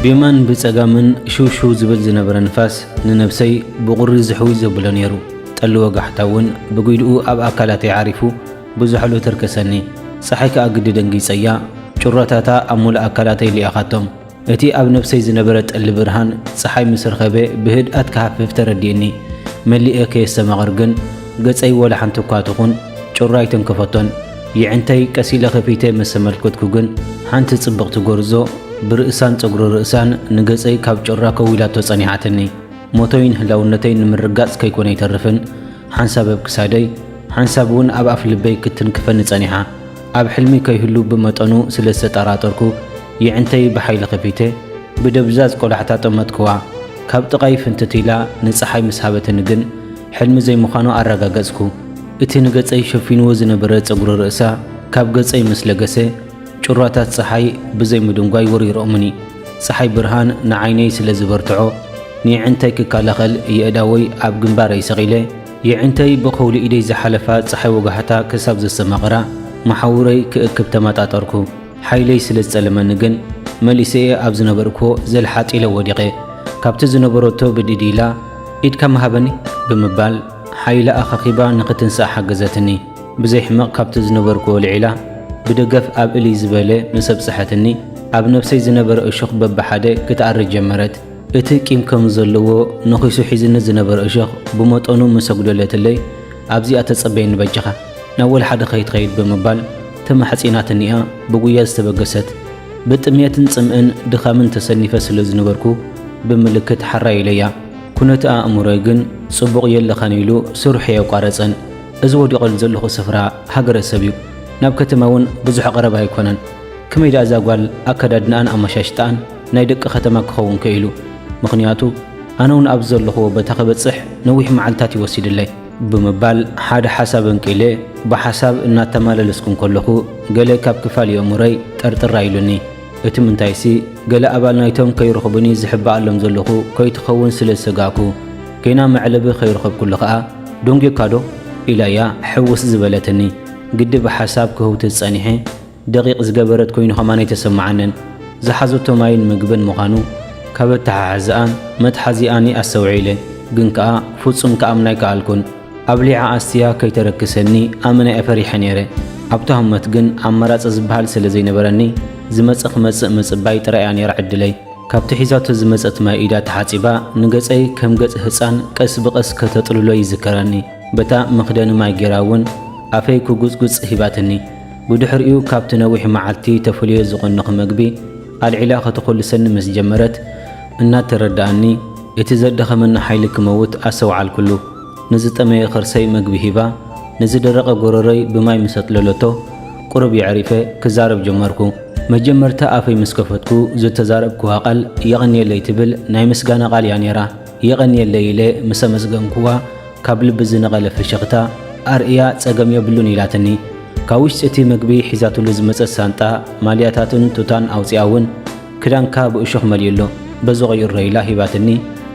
ብየማን ብጸጋምን ሽውሽው ዝብል ዝነበረ ንፋስ ንነብሰይ ብቑሪ ዝሕውይ ዘብሎ ነይሩ። ጠሊ ወጋሕታ እውን ብጒድኡ ኣብ ኣካላተይ ዓሪፉ ብዝሕሉ ተርከሰኒ። ጸሓይ ከኣ ግዲ ደንጊጸያ ጩራታታ ኣብ ምሉእ ኣካላተይ ሊኣኻቶም። እቲ ኣብ ነብሰይ ዝነበረ ጠሊ ብርሃን ጸሓይ ምስ ረኸበ ብህድኣት ክሃፍፍ ተረዲኡኒ። መሊኤ ከየስተማቕር ግን ገጸይ ወላ ሓንቲ እኳ ትኹን ጩራ ኣይተንከፈቶን። የዒንተይ ቀስ ኢለ ከፊተ ምስ ተመልከትኩ ግን ሓንቲ ጽብቕቲ ጎርዞ ብርእሳን ጸጉሪ ርእሳን ንገጸይ ካብ ጩራ ከዊላቶ ጸኒሓትኒ። ሞተይን ህላውነተይን ንምርጋጽ ከይኮነ ኣይተርፍን ሓንሳብ ኣብ ክሳደይ ሓንሳብ እውን ኣብ ኣፍ ልበይ ክትንክፈኒ ጸኒሓ። ኣብ ሕልሚ ከይህሉ ብመጠኑ ስለ ዝተጠራጠርኩ፣ የዒንተይ ብሓይሊ ከፊተ ብደብዛዝ ቆላሕታ ጠመትክዋ። ካብ ጥቓይ ፍንትት ኢላ ንጸሓይ ምስ ሃበትኒ ግን ሕልሚ ዘይምዃኑ ኣረጋገጽኩ። እቲ ንገጸይ ሸፊንዎ ዝነበረ ጸጉሪ ርእሳ ካብ ገጸይ ምስ ለገሰ፣ ጩራታት ጸሓይ ብዘይ ምድንጓይ ወሪሮሙኒ። ጸሓይ ብርሃን ንዓይነይ ስለ ዝበርትዖ፣ ንየዒንተይ ክከላኸል የእዳወይ ኣብ ግንባረይ ሰቒለ፣ የዒንተይ ብኸውሊ ኢደይ ዝሓለፋ ጸሓይ ወጋሕታ ክሳብ ዘስተማቕራ መሓውረይ ክእክብ ተመጣጠርኩ። ሓይለይ ስለ ዝጸለመኒ ግን መሊሰ'የ ኣብ ዝነበርኩዎ ዘልሓጥ ኢለ ወዲቐ። ካብቲ ዝነበረቶ ብድድ ኢላ ኢድካ ምሃበኒ ብምባል ሓይላ ኣኻኺባ ንኽትንሳእ ሓገዘትኒ። ብዘይ ሕመቕ ካብቲ ዝነበርኩዎ ልዒላ ብደገፍ ኣብ እልይ ዝበለ ምስ ኣብጽሐትኒ ኣብ ነብሰይ ዝነበረ እሾኽ በብሓደ ክትኣሪ ጀመረት። እቲ ቂም ከም ዘለዎ ነኺሱ ሒዝኒ ዝነበረ እሾኽ ብመጠኑ ምስ ኣጕደለትለይ፣ ኣብዚኣ ተጸበየኒ በጃኻ፣ ናብ ወላሓደ ከይትኸይድ ብምባል ተማሕጺናትኒ'ያ ብጕያ ዝተበገሰት። ብጥምየትን ጽምእን ድኻምን ተሰኒፈ ስለ ዝነበርኩ ብምልክት ሓራይ ኢለያ። ኵነት ኣእምሮይ ግን ጽቡቕ የለኻን ኢሉ ስርሑ ኣየቋረጸን። እዚ ወዲቐሉ ዘለኹ ስፍራ ሃገረሰብ'ዩ፣ ናብ ከተማ'ውን ብዙሕ ቐረባ ኣይኰነን። ከመይ ደኣ እዛ ጓል ኣከዳድናኣን ኣመሻሽጣኣን? ናይ ደቂ ከተማ ክኸውን ከኢሉ ምኽንያቱ ኣነውን ኣብዚ ዘለኹዎ በታ ክበጽሕ ነዊሕ መዓልታት እዩ ወሲድለይ። ብምባል ሓደ ሓሳብ ኣንቂለ ብሓሳብ እናተማለለስኩ እንከለኹ ገለ ካብ ክፋል የእሙረይ ጠርጥር ኣይሉኒ። እቲ ምንታይሲ ገለ ኣባል ናይቶም ከይረኽቡኒ ዝሕባኣሎም ዘለኹ ከይትኸውን ስለ ዝሰጋእኩ። ገና መዕለቢ ከይረኸብኩሉ ከኣ ዶንጌካዶ? ኢላያ ሕውስ ዝበለትኒ። ግዲ ብሓሳብ ክህውትት ጸኒሐ። ደቂቕ ዝገበረት ኮይኑ ከማን ኣይተሰመዓንን። ዝሓዘቶ ማይን ምግብን ምዃኑ ካብ ኣተሓሕዝኣን መትሓዚኣን'የ ኣስተውዒለ። ግን ከኣ ፍጹም ክኣምና ኣይከኣልኩን። ኣብሊዓ ኣስትያ ከይተረክሰኒ ኣመና'የ ፈሪሐ ነይረ። ኣብታ ህሞት ግን ኣማራጺ ዝበሃል ስለ ዘይነበረኒ ዝመጸ ክመጽእ ምጽባይ ጥራይ'ያ ነይራ ዕድለይ። ካብቲ ሒዛቶ ዝመጸት ማይ ኢዳ ተሓጺባ ንገጸይ ከም ገጽ ህጻን ቀስ ብቐስ ከተጥልሎ ይዝከረኒ። በታ መኽደኒ ማይ ገይራ'ውን ኣፈይ ክጉጽጉጽ ሂባትኒ። ብድሕሪኡ ካብቲ ነዊሕ መዓልቲ ተፍልዮ ዝቐነኹ መግቢ ኣልዒላ ከተኹልሰኒ ምስ ጀመረት እናተረድኣኒ እቲ ዘዳኸመኒ ሓይሊ ክመውት ኣሰውዓልኩሉ። ንዝጠመየ ከርሰይ መግቢ ሂባ ንዝደረቐ ጎረሮይ ብማይ ምስ ኣጥለለቶ ቁሩብ የዕሪፈ ክዛረብ ጀመርኩ። መጀመርታ ኣፈይ ምስ ከፈትኩ ዝተዛረብክዋ ቃል የቐንየለይ ትብል ናይ ምስጋና ቃል እያ ነይራ። የቐንየለይ ኢለ ምስ ኣመስገንክዋ ካብ ልቢ ዝነቐለ ፍሽኽታ ኣርእያ ጸገም የብሉን ኢላትኒ። ካብ ውሽጢ እቲ መግቢ ሒዛትሉ ዝመጸት ሳንጣ ማልያታትን ቱታን ኣውጺኣ እውን ክዳንካ ብእሾኽ መሊኡ ኣሎ፣ በዚ ቕይሮ ኢላ ሂባትኒ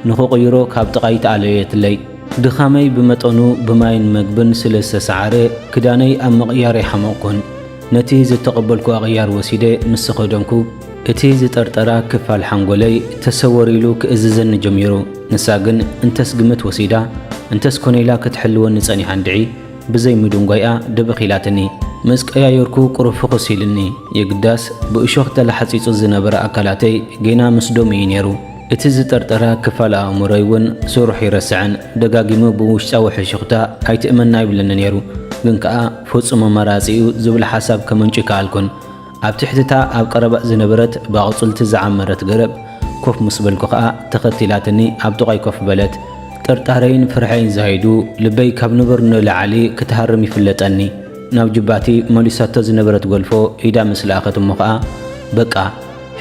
ንኽቕይሮ ካብ ጥቓይ ተኣለየትለይ። ድኻመይ ብመጠኑ ብማይን መግብን ስለ ዝተሰዓረ ክዳነይ ኣብ ምቕያር ኣይሓመቕኩን። ነቲ ዝተቐበልኩ ኣቕያር ወሲደ ምስ ተኸደንኩ፣ እቲ ዝጠርጠራ ክፋል ሓንጎለይ ተሰወር ኢሉ ክእዝዘኒ ጀሚሩ ንሳ ግን እንተስ ግምት ወሲዳ እንተስ ኮነ ኢላ ክትሕልወኒ ጸኒሓ እንድዒ፣ ብዘይ ምድንጓይኣ ድብኽ ኢላትኒ። ምስ ቀያየርኩ ቁሩብ ፍኹስ ኢሉኒ። የግዳስ፣ ብእሾኽ ተላሕጺጹ ዝነበረ ኣካላተይ ጌና ምስ ደሙ እዩ ነይሩ። እቲ ዝጠርጠረ ክፋል ኣእምሮይ እውን ስርሑ ኣይረስዐን። ደጋጊሙ ብውሽጣዊ ሕሹኽታ ኣይትእመና ይብለኒ ነይሩ። ግን ከኣ ፈጹሙ መራጺ እዩ ዝብል ሓሳብ ከመንጩ ኣይከኣልኩን። ኣብ ትሕቲ እታ ኣብ ቀረባ ዝነበረት ብኣቝጽልቲ ዝዓመረት ገረብ ኮፍ ምስ በልኩ ኸኣ፣ ተኸቲላትኒ ኣብ ጥቓይ ኮፍ በለት። ጥርጣረይን ፍርሐይን ዛይዱ፣ ልበይ ካብ ንቡር ንላዕሊ ክትሃርም ይፍለጠኒ። ናብ ጁባቲ መሊሳቶ ዝነበረት ጎልፎ ኢዳ ምስ ለኣኸት እሞ ኸኣ፣ በቃ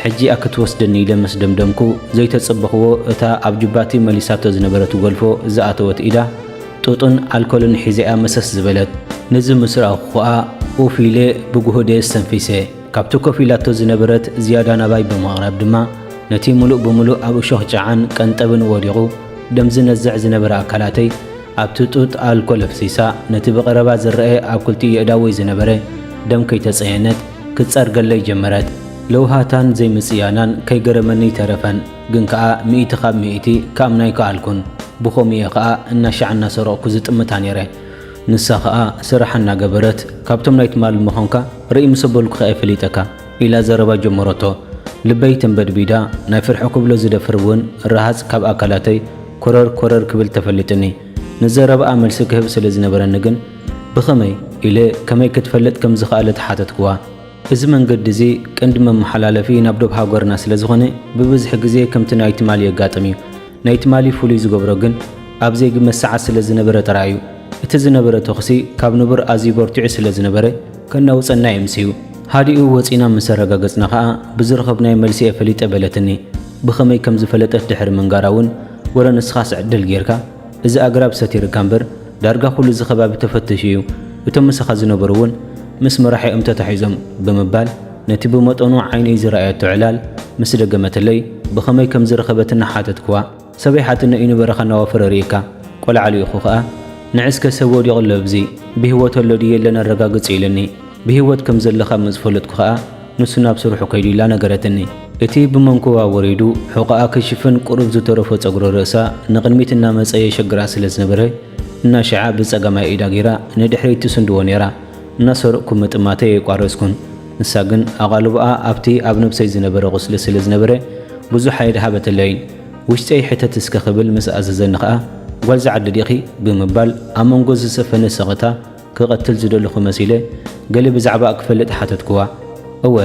ሕጂ'ያ ክትወስደኒ ኢለ ምስ ደምደምኩ፣ ዘይተጸበኽዎ እታ ኣብ ጁባቲ መሊሳቶ ዝነበረት ጎልፎ ዝኣተወት ኢዳ፣ ጡጥን ኣልኮልን ሒዘ'ያ መሰስ ዝበለት። ነዚ ምስ ረኣኹ ከኣ ኡፍ ኢለ ብጉሁደ ኣስተንፊሰ። ካብቲ ኮፍ ኢላቶ ዝነበረት ዝያዳ ናባይ ብምቕራብ ድማ ነቲ ምሉእ ብምሉእ ኣብ እሾኽ ጨዓን ቀንጠብን ወዲቑ ደም ዝነዝዕ ዝነበረ ኣካላተይ ኣብቲ ጡጥ ኣልኮል ኣፍሲሳ ነቲ ብቐረባ ዝረኤ ኣብ ክልቲኡ የእዳወይ ዝነበረ ደም ከይተጸየነት ክትጸርገለይ ጀመረት። ለውሃታን ዘይምጽያናን ከይገረመኒ ኣይተረፈን። ግን ከኣ ሚእቲ ካብ ሚእቲ ክኣምና ኣይከኣልኩን። ብኸምኡ'የ ከኣ እናሻዕ እናሰረቕኩ ዝጥምታ ነይረ። ንሳ ከኣ ስራሓ እናገበረት፣ ካብቶም ናይ ትማሊ ምዃንካ ርእይ ምስ ኣበልኩኻ'የ ፈሊጠካ፣ ኢላ ዘረባ ጀመረቶ። ልበይ ተንበድቢዳ፣ ናይ ፍርሒ ክብሎ ዝደፍር እውን ረሃጽ ካብ ኣካላተይ ኮረር ኮረር ክብል ተፈሊጡኒ። ንዘረባኣ መልሲ ክህብ ስለ ዝነበረኒ ግን፣ ብኸመይ? ኢለ ከመይ ክትፈልጥ ከም ዝኸኣለት ሓተትኩዋ። እዚ መንገዲ እዚ ቀንዲ መመሓላለፊ ናብ ዶብ ሃገርና ስለ ዝኾነ ብብዝሒ ግዜ ከምቲ ናይ ትማሊ የጋጥም እዩ። ናይ ትማሊ ፍሉይ ዝገብሮ ግን ኣብ ዜግ መሰዓት ስለ ዝነበረ ጥራይ እዩ። እቲ ዝነበረ ተኹሲ ካብ ንቡር ኣዝዩ በርቲዑ ስለ ዝነበረ ከናውጸና እዩ ኣምሲዩ። ሃዲኡ ወጺእና ምስ ኣረጋገጽና ከኣ ብዝረኸብናዮ መልሲ እየ ፈሊጠ በለትኒ። ብኸመይ ከም ዝፈለጠት ድሕሪ ምንጋራ እውን ወረ ንስኻስ ዕድል ጌርካ? እዚ ኣግራብ ሰቲርካ እምበር ዳርጋ ኩሉ እዚ ከባቢ ተፈቲሹ እዩ፣ እቶም ምሳኻ ዝነበሩ እውን ምስ መራሒኦም ተታሒዞም ብምባል ነቲ ብመጠኑ ዓይነይ ዝረኣየቶ ዕላል ምስ ደገመትለይ ብኸመይ ከም ዝረኸበት እናሓተትክዋ ሰበይ ሓትኖ እዩ ንበረኻ እናወፈረ ርእዩካ ቆልዓ ልኢኹ ከኣ ንዕስከ ሰብ ወዲቑ ኣሎ እብዚ ብህይወት ኣሎ ድዩ የለን ኣረጋግጺ ኢሉኒ። ብህይወት ከም ዘለኻ ምስ ፈለጥኩ ኸኣ፣ ንሱ ናብ ስርሑ ከይዱ ኢላ ነገረትኒ። እቲ ብመንኩባ ወሪዱ ሑቘኣ ክሽፍን ቁሩብ ዝተረፎ ጸጉሪ ርእሳ ንቕድሚት እናመጸ የሸግራ ስለ ዝነበረ፣ እናሸዓ ብጸጋማይ ኢዳ ገይራ ንድሕሪት ትስንድዎ ነይራ። እናሰረቕኩ ምጥማተይ ኣየቋረጽኩን። ንሳ ግን ኣቓልቦኣ ኣብቲ ኣብ ነብሰይ ዝነበረ ቁስሊ ስለ ዝነበረ ብዙሕ ኣየድሃበትለይን። ውሽጠይ ሕተት እስከ ክብል ምስ ኣዘዘኒ ኸኣ፣ ጓል'ዚ ዓዲ ዲኺ? ብምባል ኣብ መንጎ ዝሰፈነ ስቕታ፣ ክቐትል ዝደለኹ መሲለ ገለ ብዛዕባኣ ክፈልጥ ሓተትኩዋ። እወ፣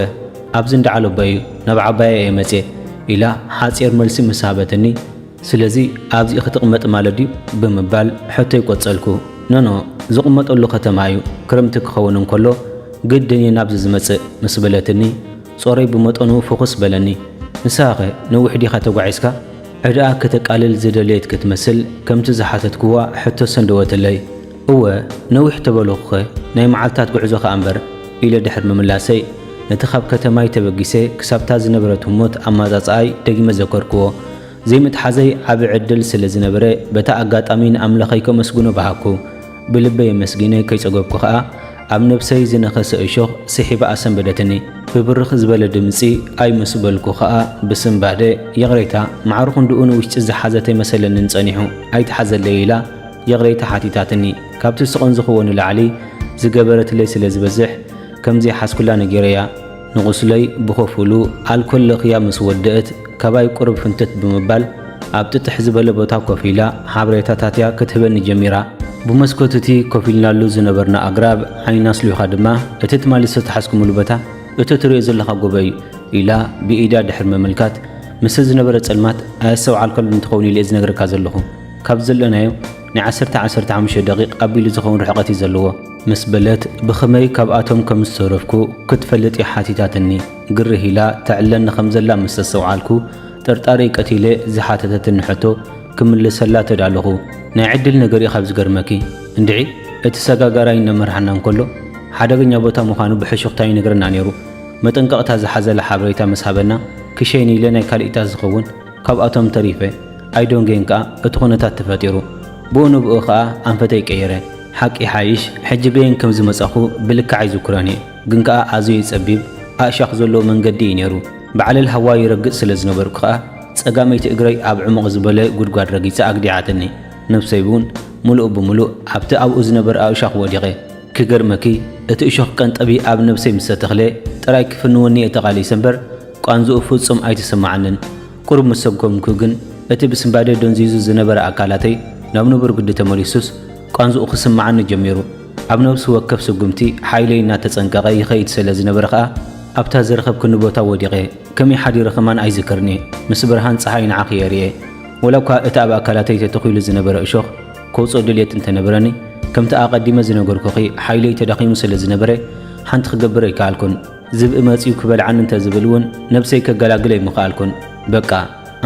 ኣብዚ እንዳ ዓሎቦይ'ዩ፣ ናብ ዓባየይ እየ መጺኤ፣ ኢላ ሓጺር መልሲ ምስ ሃበትኒ፣ ስለዚ ኣብዚ ክትቕመጥ ማለት ድዩ? ብምባል ሕቶይ ቆጸልኩ። ኖኖ፣ ዝቕመጠሉ ከተማ እዩ፣ ክረምቲ ክኸውን እንከሎ ግድን እየ ናብዚ ዝመጽእ፣ ምስ በለትኒ፣ ጾረይ ብመጠኑ ፍኹስ በለኒ። ንስኻኸ ነዊሕ ዲኻ ተጓዒዝካ? ዕዳኣ ከተቃልል ዝደለየት ክትመስል፣ ከምቲ ዝሓተትኩዋ ሕቶ ሰንደወትለይ። እወ ነዊሕ ተበልኹኸ ናይ መዓልታት ጉዕዞ ከኣ እምበር ኢለ ድሕሪ ምምላሰይ፣ ነቲ ካብ ከተማይ ተበጊሰ ክሳብ'ታ ዝነበረት ህሞት ኣማጻጽኣይ ደጊመ ዘከርክዎ። ዘይምትሓዘይ ዓቢ ዕድል ስለ ዝነበረ በታ ኣጋጣሚ ንኣምላኸይ ከመስግኖ በሃግኩ። ብልበይ ኣመስጊነ ከይጸገብኩ ከኣ ኣብ ነብሰይ ዝነኸሰ እሾኽ ስሒባ ኣሰንበደትኒ። ብብርኽ ዝበለ ድምጺ ኣይ ምስ በልኩ ከኣ ብስንባደ፣ ይቕሬታ፣ ማዕረ ክንድኡ ንውሽጢ ዝሓዘተይ መሰለኒን ጸኒሑ ኣይትሓዘለይ ኢላ፣ ይቕሬታ ሓቲታትኒ። ካብቲ ስቕንዝኽዎ ንላዕሊ ዝገበረትለይ ስለ ዝበዝሕ ከም ዘይሓዝኩላ ነጊረያ። ንቝስለይ ብኸፊሉ ኣልኮል ለኽያ ምስ ወደእት ካባይ ቁሩብ ፍንትት ብምባል ኣብ ጥጥሕ ዝበለ ቦታ ኮፍ ኢላ ሓበሬታታት'ያ ክትህበኒ ጀሚራ። ብመስኮት'ቲ ኮፍ ኢልናሉ ዝነበርና ኣግራብ ዓይና ኣስሊዃ ድማ እቲ ትማሊ ዝተታሕዝኩሙሉ ቦታ እቲ ትርእዮ ዘለኻ ጎቦ እዩ ኢላ ብኢዳ ድሕሪ ምምልካት ምስቲ ዝነበረ ጸልማት ኣየስተውዓልካሉን ትኸውን ኢለ'የ ዝነግረካ ዘለኹ። ካብ ዘለናዮ ናይ ዓሰርተ ዓሰርተ ሓሙሽተ ደቒቕ ኣቢሉ ዝኸውን ርሕቐት እዩ ዘለዎ። ምስ በለት ብኽመይ ካብኣቶም ከም ዝተረፍኩ ክትፈልጥ እያ ሓቲታትኒ። ግርህ ኢላ ተዕለኒ ከም ዘላ ምስ ኣስተውዓልኩ፣ ጥርጣረይ ቀቲለ ዝሓተተትኒ ሕቶ ክምልሰላ ተዳለኹ። ናይ ዕድል ነገር እዩ ካብ ዝገርመኪ። እንድዒ እቲ ሰጋጋራይ እናመርሓና እንከሎ ሓደገኛ ቦታ ምዃኑ ብሕሹኽታ ይነግረና ነይሩ። መጠንቀቕታ ዝሓዘለ ሓበሬታ ምስ ሃበና ክሸይን ኢለ ናይ ካልኢታት ዝኸውን ካብኣቶም ተሪፈ ኣይዶንጌን ከኣ እቲ ኩነታት ተፈጢሩ ብኡ ንብኡ ከኣ ኣንፈተይ ቀይረ። ሓቂ ይሓይሽ ሕጂ በየን ከም ዝመጻኹ ብልክዕ ኣይዝክሮን እየ ግን ከኣ ኣዘዩ ጸቢብ ኣእሻኽ ዘለዎ መንገዲ እዩ ነይሩ። ብዓለል ሃዋዩ ይረግጽ ስለ ዝነበርኩ ከኣ ጸጋመይቲ እግረይ ኣብ ዕሙቕ ዝበለ ጉድጓድ ረጊጻ ኣግዲዓትኒ። ነብሰይ ውን ምሉእ ብምሉእ ኣብቲ ኣብኡ ዝነበረ ኣእሻኽ ወዲቐ። ክገርመኪ እቲ እሾኽ ቀንጠቢ ኣብ ነብሰይ ምስ ተተኽለ ጥራይ ክፍንወኒ እየ ተቓሊሰ እምበር ቃንዝኡ ፍጹም ኣይተሰማዓንን። ቁሩብ ምስ ሰጐምኩ ግን እቲ ብስንባደ ደንዚዙ ዝነበረ ኣካላተይ ናብ ንቡር ግዲ ተመሊሱስ ቃንዝኡ ክስማዓኒ ጀሚሩ። ኣብ ነብሲ ወከፍ ስጉምቲ ሓይለይ እናተጸንቀቐ ይኸይድ ሰለ ዝነበረ ከኣ ኣብታ ዝረኸብክኒ ቦታ ወዲቐ። ከመይ ሓዲረ ከማን ኣይዝክርን እየ። ምስ ብርሃን ጸሓይ ንዓኺ እየ ርእየ። ወላኳ እቲ ኣብ ኣካላተይ ተተኺሉ ዝነበረ እሾኽ ከውጽኦ ድልየት እንተነበረኒ ከምቲ ኣቐዲመ ዝነገርኩኺ ሓይለይ ተዳኺሙ ስለ ዝነበረ ሓንቲ ክገብር ኣይከኣልኩን። ዝብኢ መጺኡ ክበልዓኒ እንተ ዝብል እውን ነብሰይ ከገላግል ኣይምኸኣልኩን። በቃ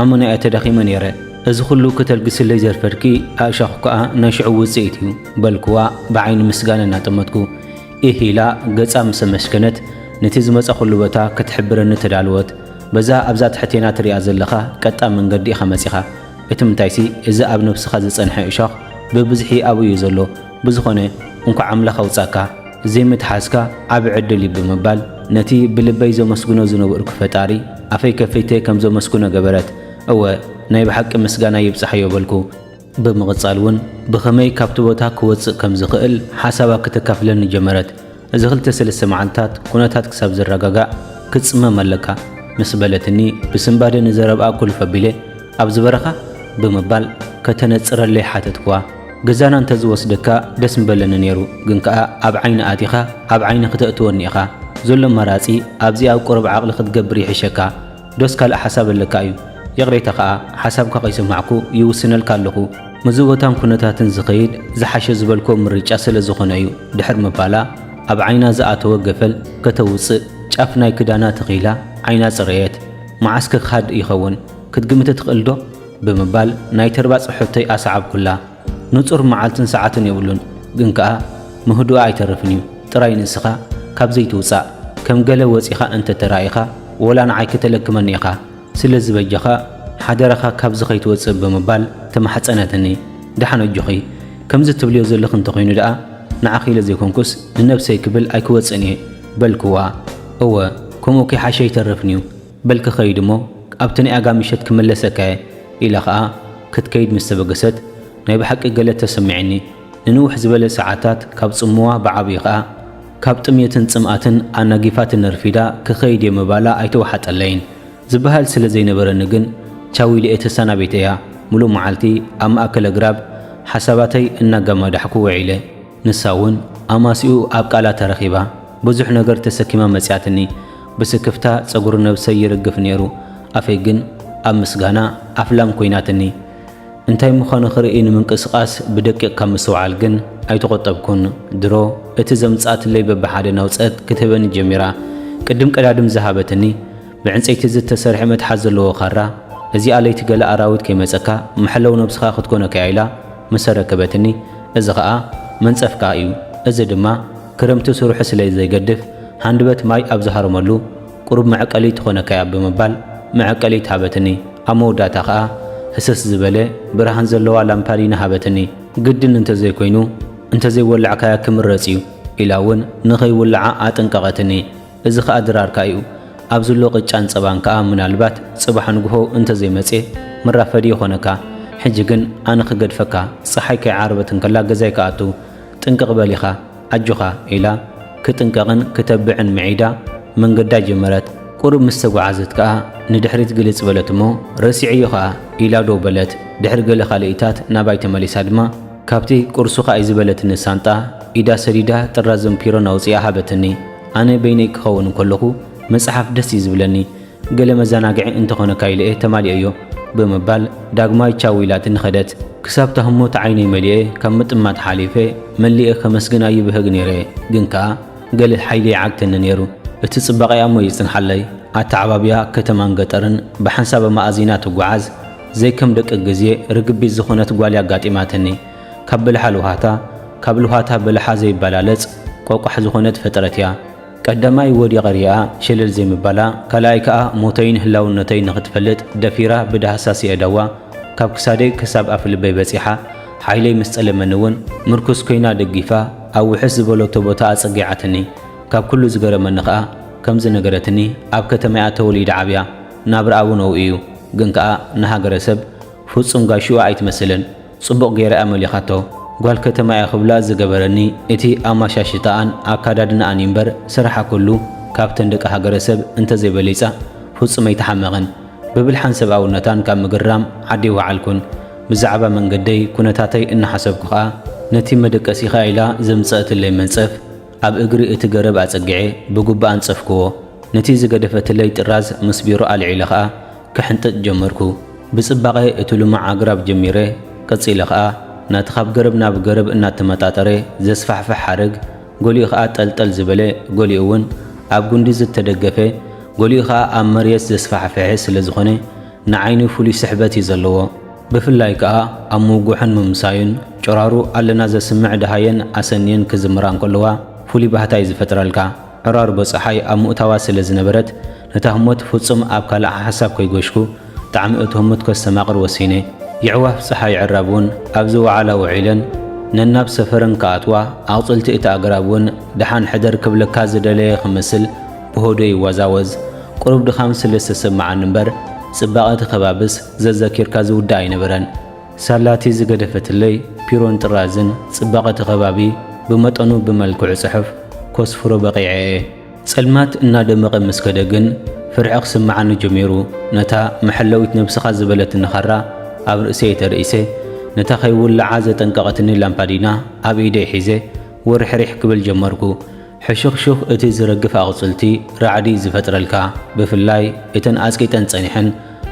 ኣመና'የ ተዳኺመ ነይረ። እዚ ኹሉ ከተልግስለይ ዘርፈድኪ ኣእሻዅ ከኣ ናይ ሽዑ ውጽኢት እዩ። በልክዋ ብዓይኒ ምስጋና እናጠመትኩ። ኢህ ኢላ ገጻ ምስ ኣመስገነት ነቲ ዝመጻኹሉ ቦታ ክትሕብረኒ ተዳለወት። በዛ ኣብዛ ትሕቴና ትሪኣ ዘለኻ ቀጣን መንገዲ ኢኻ መጺኻ። እቲ ምንታይሲ እዚ ኣብ ነብስኻ ዝጸንሐ እሾኽ ብብዝሒ ኣብኡ እዩ ዘሎ። ብዝኾነ እንኳዕ ኣምላኽ ኣውጻካ ዘይምትሓዝካ ዓቢ ዕድል እዩ ብምባል ነቲ ብልበይ ዘመስግኖ ዝነበርኩ ፈጣሪ ኣፈይ ከፊተ ከም ዘመስግኖ ገበረት እወ ናይ ብሓቂ ምስጋና ይብጻሕዮ በልኩ። ብምቕጻል ውን ብኸመይ ካብቲ ቦታ ክወጽእ ከም ዝኽእል ሓሳባ ከተካፍለኒ ጀመረት። እዚ ክልተ ሰለስተ መዓልታት ኩነታት ክሳብ ዝረጋጋእ ክትጽመም ኣለካ ምስ በለትኒ ብስንባደ ንዘረብኣ ኩልፍ ኣቢለ ኣብዚ በረኻ? ብምባል ከተነጽረለይ ሓተትክዋ። ገዛና እንተ ዝወስደካ ደስ ምበለኒ ነይሩ ግን ከኣ ኣብ ዓይኒ ኣቲኻ ኣብ ዓይኒ ክተእትወኒ ኢኻ። ዘሎ ኣማራጺ ኣብዚ ኣብ ቁሩብ ዓቕሊ ክትገብር ይሕሸካ። ዶስ ካልእ ሓሳብ ኣለካ እዩ ይቕሬታ ከኣ ሓሳብካ ከይሰማዕኩ ይውስነልካ ኣለኹ ምዚ ቦታን ኩነታትን ዝኸይድ ዝሓሸ ዝበልክዎ ምርጫ ስለ ዝኾነ እዩ ድሕር ምባላ ኣብ ዓይና ዝኣተወ ገፈል ከተውጽእ ጫፍ ናይ ክዳና ተኺላ ዓይና ጽረየት መዓስ ክክሃድ ይኸውን ክትግምት ትኽእል ዶ? ብምባል ናይ ተርባጽ ሕቶይ ኣሰዓብኩላ። ንጹር መዓልትን ሰዓትን የብሉን ግን ከኣ ምህዱኣ ኣይተርፍን እዩ ጥራይ ንስኻ ካብ ዘይትውጻእ ከም ገለ ወጺኻ እንተ ተራኢኻ ወላ ንዓይ ክተለክመኒ ኢኻ ስለ ዝበጀኻ ሓደራኻ ካብዚ ከይትወጽእ ብምባል ተማሕጸነትኒ ደሓን ኣጆኺ ከምዚ ትብልዮ ዘለኺ እንተ ኮይኑ ደኣ ንዓኺ ኢለ ዘይኮንኩስ ንነብሰይ ክብል ኣይክወጽእን እየ በልክዋ እወ ከምኡ ከይሓሸ ኣይተርፍን እዩ በል ክኸይድ እሞ ኣብቲ ናይ ኣጋ ምሸት ክምለሰካ'የ ኢላ ኸኣ ክትከይድ ምስ ተበገሰት፣ ናይ ብሓቂ ገለ ተሰሚዑኒ። ንንውሕ ዝበለ ሰዓታት ካብ ጽምዋ ብዓቢኡ ኸኣ ካብ ጥምየትን ጽምኣትን ኣናጊፋትኒ ኣርፊዳ ክኸይድ'የ ምባላ ኣይተወሓጠለይን። ዝበሃል ስለ ዘይነበረኒ ግን ቻው ኢለ'የ ተሰናቢተያ። ምሉእ መዓልቲ ኣብ ማእከል ኣግራብ ሓሳባተይ እናገማዳሕኩ ውዒለ። ንሳ እውን ኣማስይኡ ኣብ ቃላ ተረኺባ ብዙሕ ነገር ተሰኪማ መጺኣትኒ። ብስክፍታ ጸጉሪ ነብሰይ ይርግፍ ነይሩ፣ ኣፈይ ግን ኣብ ምስጋና ኣፍላም ኰይናትኒ። እንታይ ምዃኑ ክርኢ ንምንቅስቓስ ብደቂቕ ካብ ምስትውዓል ግን ኣይተቖጠብኩን። ድሮ እቲ ዘምጽኣትለይ በብሓደ ናውጸት ክትህበኒ ጀሚራ። ቅድም ቀዳድም ዝሃበትኒ ብዕንጸይቲ ዝተሰርሐ መትሓዚ ዘለዎ ካራ፣ እዚኣ ለይቲ ገለ ኣራዊት ከይመጸካ መሐለዊ ነብስኻ ክትኰነካ'ያ ኢላ ምስ ኣረከበትኒ እዚ ከኣ መንጸፍ ከኣ እዩ እዚ ድማ ክረምቲ ስርሑ ስለ ዘይገድፍ ሃንድበት ማይ ኣብ ዝሃርመሉ ቁሩብ መዕቀሊ ትኾነካያ ብምባል መዕቀሊት ሃበትኒ ኣብ መወዳእታ ከኣ ህስስ ዝበለ ብርሃን ዘለዋ ላምፓዲና ሃበትኒ። ግድን እንተዘይኮይኑ እንተዘይወላዕካያ ክምረጽ እዩ ኢላ ውን ንኸይውልዓ ኣጠንቀቐትኒ። እዚ ከኣ ድራርካ እዩ። ኣብ ዝሎ ቅጫን ጸባን ከኣ ምናልባት ጽባሕ ንግሆ እንተ ዘይመጽየ መራፈዲ ይኾነካ። ሕጂ ግን ኣነ ክገድፈካ፣ ጸሓይ ከይዓረበት እንከላ ገዛይ ክኣቱ። ጥንቅቕ በል ኢኻ። ኣጆኻ። ኢላ ክጥንቀቕን ክተብዕን ምዒዳ መንገዳ ጀመረት። ቁሩብ ምስ ተጓዓዘት ከኣ ንድሕሪት ግልጽ በለት እሞ ረሲዐዮ ከኣ ኢላ ደው በለት። ድሕሪ ገለ ካልኢታት ናባይ ተመሊሳ ድማ ካብቲ ቁርሱኻ እዩ ዝበለትኒ ሳንጣ ኢዳ ሰዲዳ ጥራዝን ፒሮን ኣውጺኣ ሃበትኒ። ኣነ በይነይ ክኸውን እንከለኹ ምጽሓፍ ደስ እዩ ዝብለኒ፣ ገለ መዘናግዒ እንተኾነካ ኢለ'የ ተማሊኤዮ ብምባል ዳግማይ ቻው ኢላትኒ ከደት። ክሳብ'ታ ህሞት ዓይነይ መሊኤ ካብ ምጥማት ሓሊፈ መሊኤ ከመስግና ይብህግ ነይረ ግን ከኣ ገለ ሓይሊ ይዓግተኒ ነይሩ። እቲ ጽባቄኣ'ሞ ይጽንሓለይ፣ ኣተዓባብያ ከተማን ገጠርን ብሓንሳብ ኣመኣዚና ትጉዓዝ፣ ዘይከም ደቂ ግዜ ርግቢት ዝኾነት ጓል'ያ ኣጋጢማትኒ። ካብ በልሓ ልውሃታ ካብ ልውሃታ በልሓ ዘይበላለጽ ቆቋሕ ዝኾነት ፍጥረት እያ። ቀዳማይ ወዲቐ ሪኣ ሸለል ዘይምባላ ካልኣይ ከኣ ሞተይን ህላውነተይን ንኽትፈልጥ ደፊራ ብዳህሳስ የእዳዋ ካብ ክሳደይ ክሳብ ኣፍልበይ በጺሓ ሓይለይ ምስ ጸለመኒ ውን ምርኩስ ኮይና ደጊፋ ኣብ ውሕስ ዝበለቶ ቦታ ኣጸጊዓትኒ ካብ ኩሉ ዝገረመኒ ከኣ ከምዚ ነገረትኒ ኣብ ከተማ'ያ ተወሊዳ ዓብያ ናብራኣ ውን ኣውኡ እዩ ግን ከኣ ንሃገረሰብ ፍጹም ጋሽኡ ኣይትመስልን ጽቡቕ ገይረ እያ መሊኻቶ። ጓል ከተማ እያ ክብላ ዝገበረኒ እቲ ኣማሻሽታኣን ኣካዳድናኣን እዩ እምበር ስራሓ ኩሉ ካብተን ደቂ ሃገረሰብ እንተዘይበሊጻ ፍጹም ኣይተሓመቐን። ብብልሓን ሰብኣውነታን ካብ ምግርራም ዓዲ ኣይወዓልኩን። ብዛዕባ መንገደይ ኩነታተይ እናሓሰብኩ ከኣ ነቲ መደቀሲኻ ኢላ ዘምጸእትለይ መንጸፍ ኣብ እግሪ እቲ ገረብ ኣጸጊዐ ብጉብኣ ኣንጸፍክዎ። ነቲ ዝገደፈትለይ ጥራዝ ምስ ቢሮ ኣልዒለ ከኣ ክሕንጥጥ ጀመርኩ። ብጽባቐ እቲ ልሙዕ ኣግራብ ጀሚረ፣ ቀጺለ ኸኣ ናቲ ካብ ገረብ ናብ ገረብ እናተመጣጠረ ዘስፋሕፍሕ ሓረግ፣ ገሊኡ ኸኣ ጠልጠል ዝበለ፣ ገሊኡ'ውን ኣብ ጕንዲ ዝተደገፈ፣ ገሊኡ ኸኣ ኣብ መርየት ዘስፋሕፍሐ ስለ ዝዀነ ንዓይኒ ፍሉይ ስሕበት እዩ ዘለዎ። ብፍላይ ከኣ ኣብ ምውግሑን ምምሳዩን፣ ጭራሩ ኣለና ዘስምዕ ደሃየን ኣሰንየን ክዝምራ እንከለዋ ፍሉይ ባህታ እዩ ዝፈጥረልካ። ዕራርቦ ጸሓይ ኣብ ምኡታዋ ስለ ዝነበረት፣ ነታ ህሞት ፍጹም ኣብ ካልእ ሓሓሳብ ከይጎሽኩ፣ ጣዕሚ እቲ ህሙት ከስተማቕር ወሲነ። የዕዋፍ ጸሓይ ዕራብ ውን ኣብዚ ወዓላ ውዒለን ነናብ ሰፈረን ክኣትዋ፣ ኣቕጽልቲ እቲ ኣግራብ ውን ደሓን ሕደር ክብለካ ዝደለየ ክመስል ብሆዶይ ይወዛወዝ። ቁሩብ ድኻም ስለ ዝተሰመዓኒ እምበር፣ ጽባቐ እቲ ከባብስ ዘዘኪርካ ዝውዳእ ኣይነበረን። ሳላ'ቲ ዝገደፈትለይ ፒሮን ጥራዝን ጽባቐ'ቲ ከባቢ ብመጠኑ ብመልክዑ ጽሑፍ ኮስፍሮ በቒዐ'የ። ጸልማት እናደመቐ ምስ ከደ ግን ፍርሒ ክስምዓኒ ጀሚሩ። ነታ መሐለዊት ነብስኻ ዝበለትኒ ኻራ ኣብ ርእሰይ ተሪእሰ፣ ነታ ከይውልዓ ዘጠንቀቐትኒ ላምፓዲና ኣብ ኢደይ ሒዘ ውርሕሪሕ ክብል ጀመርኩ። ሕሹኽሹኽ እቲ ዝረግፍ ኣቝጽልቲ ራዕዲ ዝፈጥረልካ፣ ብፍላይ እተን ኣጽቂጠን ጸኒሐን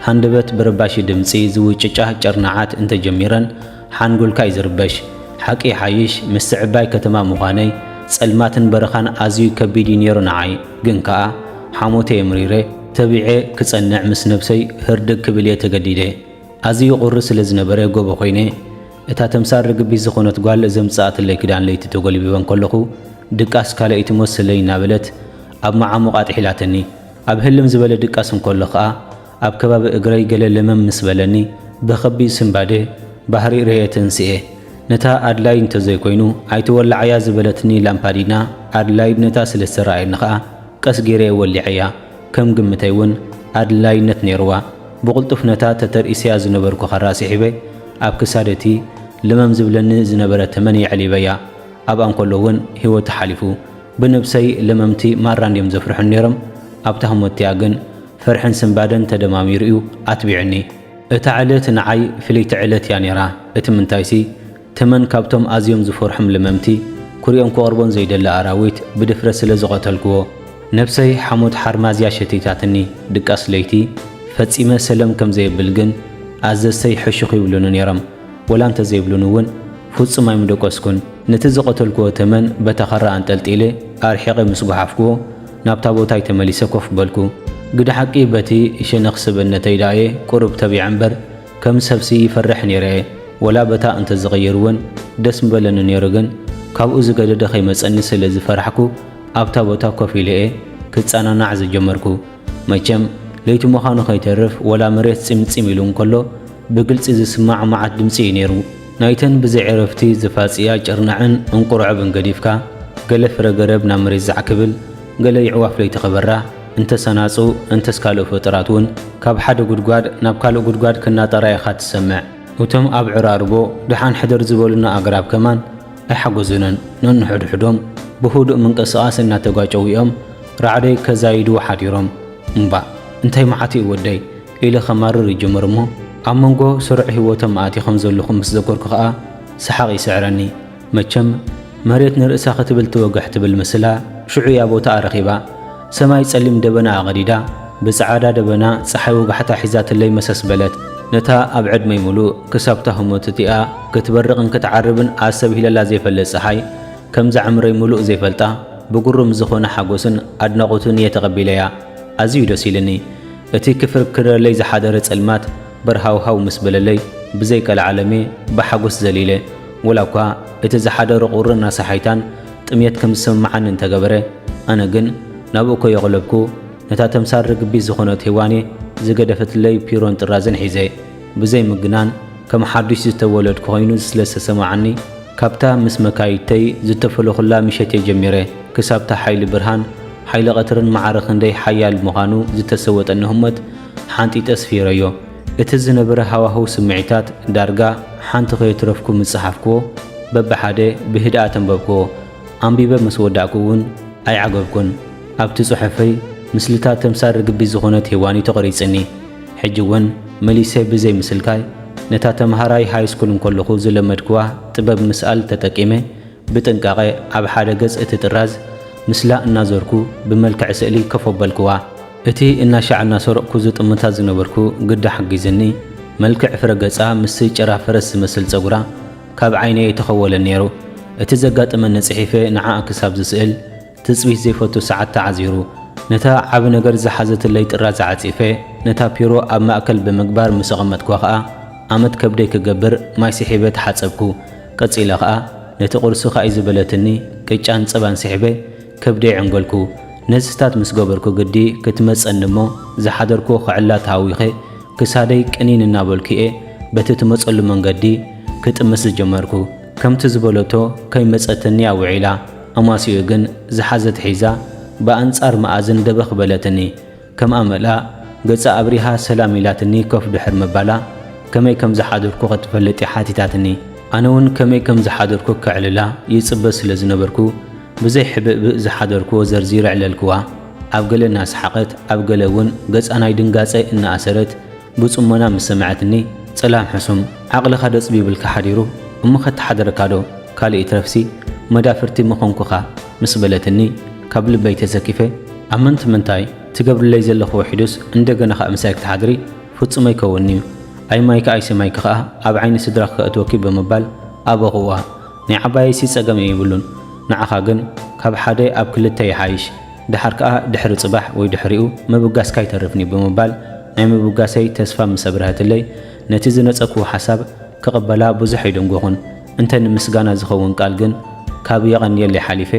ሃንደበት ብረባሺ ድምጺ ዝውጭጫ ጭርናዓት እንተ ጀሚረን ሓንጎልካ እዩ ዝርበሽ። ሓቂ ይሓይሽ ምስቲ ዕባይ ከተማ ምዃነይ ጸልማትን በረኻን ኣዝዩ ከቢድ እዩ ነይሩ ንዓይ። ግን ከኣ ሓሞተ እየ ምሪረ። ተቢዐ ክጸንዕ ምስ ነብሰይ ህርድግ ክብል እየ ተገዲደ። ኣዝዩ ቝሪ ስለ ዝነበረ ጎቦ ኰይነ እታ ተምሳል ርግቢት ዝኾነት ጓል ዘምጽኣትለይ ክዳን ለይቲ ተጎልቢበ እንከለኹ ድቃስ ካልኣይቲ ሞስለይ እናበለት ኣብ መዓሙቕ ኣጥሒላትኒ። ኣብ ህልም ዝበለ ድቃስ እንከሎ ከኣ ኣብ ከባቢ እግረይ ገለ ለመም ምስ በለኒ ብኸቢድ ስንባደ ባህሪ ርእየ ተንሲኤ። ነታ ኣድላይት እንተዘይኮይኑ ኣይትወልዓያ ዝበለትኒ ላምፓዲና ኣድላይት ነታ ስለ ዝተረኣየኒ ከኣ ቀስ ገይረ'የ ወሊዐያ፣ ከም ግምተይ ውን ኣድላይነት ነይሩዋ፣ ብቕልጡፍ ነታ ተተርኢሰያ ዝነበርኩ ኻራ ስሒበ ኣብ ክሳድ እቲ ለመም ዝብለኒ ዝነበረ ተመን የዕሊበያ፣ ኣብኣ እንከሎ ውን ህይወቱ ሓሊፉ። ብነብሰይ ለመምቲ ማራ እንድዮም ዘፍርሑኒ ነይሮም፣ ኣብታ ህሞት'ቲኣ ግን ፍርሕን ስንባደን ተደማሚሩ'ዩ ኣትቢዑኒ። እታ ዕለት ንዓይ ፍልይቲ ዕለት'ያ ነይራ፣ እቲ ምንታይሲ ተመን ካብቶም ኣዝዮም ዝፈርሑም ለመምቲ፣ ኩሪኦም ክቐርቦን ዘይደሊ ኣራዊት ብድፍረት ስለ ዝቐተልኩዎ፣ ነብሰይ ሓሞት ሓርማዝያ ሸቲታትኒ፣ ድቃስ ለይቲ ፈጺመ ሰለም ከም ዘየብል ግን ኣዘዝተይ ሕሹኽ ይብሉኒ ነይሮም። ወላ እንተ ዘይብሉኒ እውን ፍጹም ኣይምደቈስኩን። ነቲ ዝቐተልኩዎ ተመን በታ ኸራ ኣንጠልጢለ ኣርሒቐ ምስ ጐሓፍኩዎ፣ ናብታ ቦታይ ተመሊሰ ኮፍ በልኩ። ግደ ሓቂ በቲ ሸነኽ ሰብእነተይ ደኣ'የ ቁሩብ ተቢዐ'ምበር፣ ከም ሰብሲ ይፈርሕ ኔረ'የ ወላ በታ እንተ ዝቕይር ውን ደስ ምበለኒ ኔሩ ግን ካብኡ ዝገደደ ከይመጸኒ ስለ ዝፈራሕኩ ኣብታ ቦታ ኮፍ ኢለ'የ ክጸናናዕ ዝጀመርኩ መቸም ለይቲ ምዃኑ ከይተርፍ ወላ መሬት ጺም ጺም ኢሉ እንከሎ ብግልጺ ዝስማዕ መዓት ድምጺ እዩ ኔሩ ናይተን ብዘይ ዕረፍቲ ዝፋጽያ ጭርናዕን እንቁርዕብን ገዲፍካ ገለ ፍረ ገረብ ናብ መሬት ዛዕ ክብል ገለ የዕዋፍ ለይቲ ክበራ እንተስ ኣናጹ እንተስ ካልእ ፍጡራት ውን ካብ ሓደ ጉድጓድ ናብ ካልእ ጉድጓድ ክናጠራ ኢኻ ትሰምዕ። እቶም ኣብ ዕራርቦ ድሓን ሕደር ዝበሉና ኣግራብ ከማን ኣይሓጎዙንን። ነንሕድሕዶም ብህዱእ ምንቅስቓስ እናተጋጨዉ ኢዮም ራዕዲ ከዛይዱ ሓዲሮም። እምባእ! እንታይ መዓት ኢዩ ወደይ! ኢለ ከማርር ይጅምር እሞ ኣብ መንጎ ስሩዕ ህይወቶም ኣእቲኹም ዘለኹ ምስ ዘኮርኩ ከኣ ሰሓቕ ይስዕረኒ። መቸም መሬት ንርእሳ ክትብል ትወግሕ ትብል ምስላ ሽዑ እያ ቦታኣ ረኺባ። ሰማይ ጸሊም ደበና ኣቐዲዳ ብጸዓዳ ደበና ጸሓይ ወጋሕታ ሒዛትለይ መሰስ በለት። ነታ ኣብ ዕድመይ ምሉእ ክሳብ'ታ ህሞት እቲኣ ክትበርቕን ክትዓርብን ኣስተብሂለላ ዘይፈልጥ ጸሓይ፣ ከምዛ ዕምረይ ምሉእ ዘይፈልጣ ብግሩም ዝኾነ ሓጎስን ኣድናቖትን እየ ተቐቢለያ። ኣዝዩ እዩ ደስ ኢሉኒ። እቲ ክፍርክረለይ ዝሓደረ ጸልማት፣ በርሃውሃው ምስ በለለይ ብዘይ ቀልዓለም'የ ብሓጎስ ዘሊለ። ወላ'ኳ እቲ ዝሓደሮ ቁርን ኣሳሓይታን ጥምየት ከም ዝስምምዓኒ እንተገበረ፣ ኣነ ግን ናብኡ ከየቕለብኩ ነታ ተምሳል ርግቢት ዝኾነት ሄዋን'የ ዝገደፈትለይ ፒሮን ጥራዝን ሒዘ። ብዘይ ምግናን ከም ሓዱሽ ዝተወለድኩ ኮይኑ ስለ ዝተሰምዓኒ፣ ካብታ ምስ መካይድተይ ዝተፈለኹላ ምሸት'የ ጀሚረ ክሳብ'ታ ሓይሊ ብርሃን ሓይሊ ቀትርን ማዕረ ክንደይ ሓያል ምዃኑ ዝተሰወጠኒ ህሞት፣ ሓንጢጠ ስፊረዮ። እቲ ዝነበረ ሃዋህው ስምዒታት ዳርጋ ሓንቲ ከየትረፍኩ ምስ ጸሓፍኩዎ፣ በብሓደ ብህድኣት ኣንበብኩዎ። ኣንቢበ ምስ ወዳእኩ እውን ኣይዓገብኩን። ኣብቲ ጽሑፈይ ምስልታት ተምሳል ርግቢት ዝኾነት ሄዋን'ዩ ተቐሪጽኒ። ሕጂ እውን መሊሰ ብዘይ ምስልካይ፣ ነታ ተመሃራይ ሃይስኩል እንከለኹ ዝለመድኩዋ ጥበብ ምስኣል ተጠቂመ ብጥንቃቐ ኣብ ሓደ ገጽ እቲ ጥራዝ ምስላ እናዞርኩ ብመልክዕ ስእሊ ከፍ ኣበልኩዋ። እቲ እናሻዕ እናሰረቕኩ ዝጥምታ ዝነበርኩ ግዳ ሓጊዙኒ። መልክዕ ፍረ ገጻ ምስቲ ጭራ ፈረስ ዝመስል ጸጉራ ካብ ዓይነይ ኣይተኸወለን ነይሩ። እቲ ዘጋጠመኒ ጽሒፈ ንዓኣ ክሳብ ዝስእል፣ ትጽቢት ዘይፈቱ ሰዓት ተዓዚሩ። ነታ ዓቢ ነገር ዝሓዘትለይ ጥራዝ ዓጺፈ ነታ ፒሮ ኣብ ማእከል ብምግባር ምስ ኣቐመጥኩዋ ከኣ ኣመት ከብደይ ክገብር ማይ ስሒበ ተሓጸብኩ። ቀጺለ ከኣ ነቲ ቁርሲ ካኢዚ በለትኒ ቅጫን ጸባን ስሒበ ከብደይ ዕንገልኩ ነዝታት ምስ ገበርኩ ግዲ ክትመጸኒ እሞ ዝሓደርኩዎ ክዕላ ተሃዊኸ ክሳደይ ቅኒን እናበልኩ'የ በቲ ትመጸሉ መንገዲ ክጥምት ዝጀመርኩ። ከምቲ ዝበለቶ ከይመጸትኒ'ያ ውዒላ። ኣማስይኡ ግን ዝሓዘት ሒዛ ብኣንጻር መኣዝን ደበኽ በለትኒ። ከም ኣመላ ገጻ ኣብሪሃ ሰላም ኢላትኒ ኮፍ ድሕር ምባላ ከመይ ከም ዝሓደርኩ ከትፈልጥ'ያ ሓቲታትኒ። ኣነ'ውን ከመይ ከም ዝሓደርኩ ከዕልላ ይጽበ ስለ ዝነበርኩ ብዘይ ሕብእብእ ዝሓደርኩዎ ዘርዚረ ዕለልኩዋ። ኣብ ገለ እናሰሓቐት ኣብ ገለ'ውን ገጻ ናይ ድንጋጸ እናኣሰረት፣ ብጽሞና ምስ ሰመዐትኒ ጸላም ሕሱም ዓቕልኻ ደጽብ ይብልካ ሓዲሩ እሞ ከተሓድረካዶ ካልእ ይትረፍሲ መዳፍርቲ ምኾንኩኻ ምስ በለትኒ ካብ ልበይ ተሰኪፈ ኣመንቲ ምንታይ ትገብርለይ ዘለኺ ውሒዱስ እንደገና ኸኣ ምሳይ ክትሓድሪ ፍጹም ኣይከውንንዩ ኣይማይኪ ኣይሰማይኪ ኸኣ ኣብ ዓይኒ ስድራኺ ከእትወኪ ብምባል ኣበኹዋ ናይ ዓባየይሲ ጸገም የይብሉን ንዓኻ ግን ካብ ሓደ ኣብ ክልተ ይሓይሽ ደሓር ከኣ ድሕሪ ጽባሕ ወይ ድሕሪኡ ምብጋስካ ኣይተርፍን'ዩ ብምባል ናይ ምብጋሰይ ተስፋ ምስ ኣብርሀትለይ፣ ነቲ ዝነጸግክዎ ሓሳብ ክቕበላ ብዙሕ ኣይደንጎኹን። እንተ ንምስጋና ዝኸውን ቃል ግን ካብ የቐንየለይ ሓሊፈ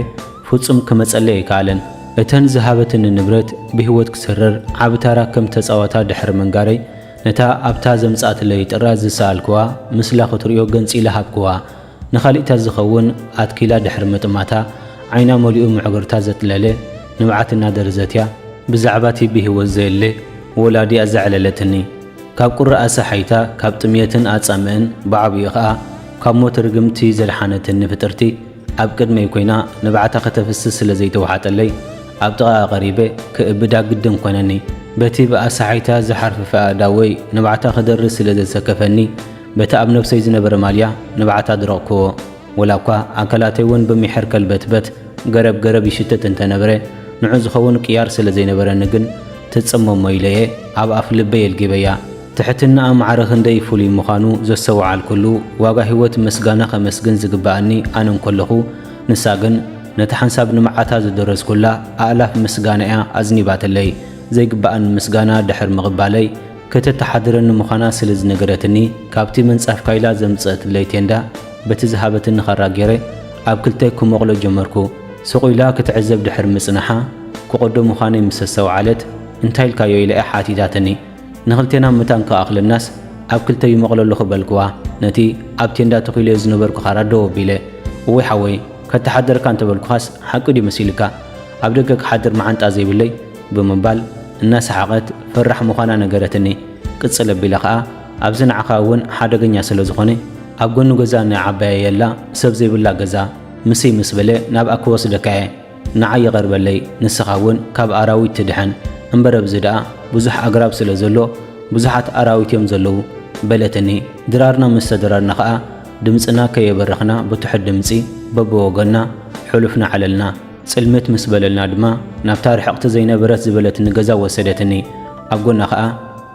ፍጹም ክመጸለይ ኣይከኣለን። እተን ዝሃበትኒ ንብረት ብህይወት ክስርር ዓቢ ታራ ከም እተጻወታ ድሕሪ ምንጋረይ፣ ነታ ኣብታ ዘምጽኣትለይ ጥራዝ ዝሰኣልክዋ ምስላ ክትርእዮ ገንጺለ ሃብክዋ። ንካሊእታት ዝኸውን ኣትኪላ ድሕሪ ምጥማታ ዓይና መሊኡ ምዕግርታ ዘጥለለ ንብዓት እናደርዘትያ ብዛዕባቲ ብሂወት ዘየለ ወላዲ ኣዘዕለለትኒ ካብ ቁሪ ኣሳሓይታ ካብ ጥምየትን ኣጻምእን ብዓቢኡ ከኣ ካብ ሞት ርግምቲ ዘድሓነትኒ ፍጥርቲ ኣብ ቅድመይ ኮይና ንብዓታ ከተፍስስ ስለ ዘይተዋሓጠለይ ኣብ ጥቓኣ ቀሪበ ክእብዳ ግድን ኮነኒ በቲ ብኣሳሓይታ ዝሓርፍፍ ኣእዳወይ ንብዓታ ክደርዝ ስለ ዘሰከፈኒ በቲ ኣብ ነብሰይ ዝነበረ ማልያ ንብዓት ኣድረቕኩዎ። ወላኳ ኣካላተይ ውን ብምሕር ከልበትበት፣ ገረብ ገረብ ይሽትት እንተነብረ፣ ንዑ ዝኸውን ቅያር ስለ ዘይነበረኒ ግን ትጽመሞ ኢለ'የ ኣብ ኣፍ ልበይ ኣልጊበያ። ትሕትናኣ ማዕረ ክንደይ ፍሉይ ምዃኑ ዘስተውዓልኩሉ ዋጋ ህይወት ምስጋና ከመስግን ዝግበኣኒ ኣነ እንከለኹ፣ ንሳ ግን ነታ ሓንሳብ ንብዓታ ዝደረዝኩላ ኣእላፍ ምስጋና'ያ ኣዝኒባትለይ። ዘይግበኣኒ ምስጋና ድሕር ምቕባለይ፣ ከተተሓድረኒ ምዃና ስለ ዝነገረትኒ፣ ካብቲ ምንጻፍካ ኢላ ዘምጽእትለይ ቴንዳ በቲ ዝሃበትኒ ኻራ ገይረ ኣብ ክልተ ክመቕሎ ጀመርኩ። ስቕ ኢላ ክትዕዘብ ድሕሪ ምጽናሓ፣ ክቕዶ ምዃነይ ምስ ኣስተውዓለት፣ እንታይ ኢልካዮ? ኢላ'ያ ሓቲታትኒ። ንኽልቴና መታን ክኣኽለናስ ኣብ ክልተ ይመቕሎ ኣለኹ በልክዋ፣ ነቲ ኣብ ቴንዳ ተኺለዮ ዝነበርኩ ኻራ ደው ኣቢለ። እወይ ሓወይ፣ ከተሓደረካ እንተ በልኩኻስ ሓቂ ድዩ መሲሉካ? ኣብ ደገ ክሓድር መዓንጣ ዘይብለይ? ብምባል እናሰሓቐት ፈራሕ ምዃና ነገረትኒ። ቅጽል ኣቢላ ከኣ ኣብዚ ንዓኻ እውን ሓደገኛ ስለ ዝኾነ ኣብ ጎኒ ገዛ ንዓባየየላ ሰብ ዘይብላ ገዛ ምስይ ምስ በለ ናብኣ ክወስደካ እየ ንዓይ ይቐርበለይ ንስኻ እውን ካብ ኣራዊት ትድሕን እምበር ኣብዚ ደኣ ብዙሕ ኣግራብ ስለ ዘሎ ብዙሓት ኣራዊት እዮም ዘለዉ በለትኒ። ድራርና ምስ ተደራርና ከኣ ድምጽና ከየበረኽና ብትሑት ድምጺ በብወገንና ሑሉፍ ንዓለልና። ጽልምት ምስ በለልና ድማ ናብታ ርሕቕቲ ዘይነበረት ዝበለትኒ ገዛ ወሰደትኒ። ኣብ ጎና ከኣ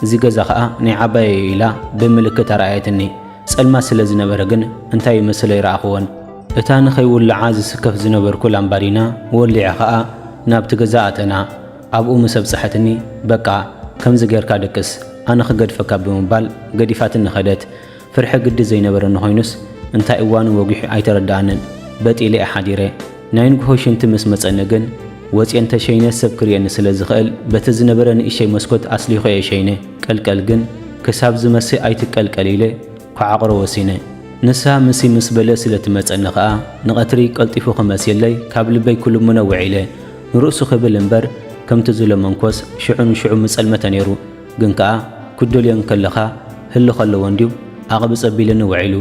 እዚ ገዛ ከኣ ናይ ዓባየይ'ዩ ኢላ ብምልክት ኣርኣየትኒ። ጸልማት ስለ ዝነበረ ግን እንታይ ይመስል ኣይረኣኹዎን። እታ ንኸይውልዓ ዝስከፍ ዝነበርኩ ላምባዲና ወሊዐ ከኣ ናብቲ ገዛ ኣተና። ኣብኡ ምስ ኣብጽሐትኒ በቃ ከምዚ ጌርካ ደቅስ ኣነ ክገድፈካ ብምባል ገዲፋትኒ ከደት። ፍርሒ ግዲ ዘይነበረኒ ኮይኑስ እንታይ እዋኑ ወጊሑ ኣይተረደኣንን። በጥ ኢለ'የ ሓዲረ። ናይ ንግሆ ሽንቲ ምስ መጸኒ ግን ወጺኤ እንተ ሸይነ ሰብ ክርእየኒ ስለ ዝኽእል በቲ ዝነበረ ንእሽተይ መስኮት ኣስሊኾ'የ ሸይነ። ቀልቀል ግን ክሳብ ዝመሲ ኣይትቀልቀል ኢለ ክዓቑሮ ወሲነ። ንሳ ምሲ ምስ በለ ስለ ትመጸኒ ከኣ ንቐትሪ ቀልጢፉ ክመስየለይ ካብ ልበይ ክልምኖ ውዒለ። ንርእሱ ክብል እምበር ከምቲ ዝለመንኩዎስ ሽዑ ንሽዑ ምጸልመተ ነይሩ። ግን ከኣ ክትደልዮ እንከለኻ ህልኽ ኣለዎ እንድዩ ኣቕብጽ ኣቢልኒ ውዒሉ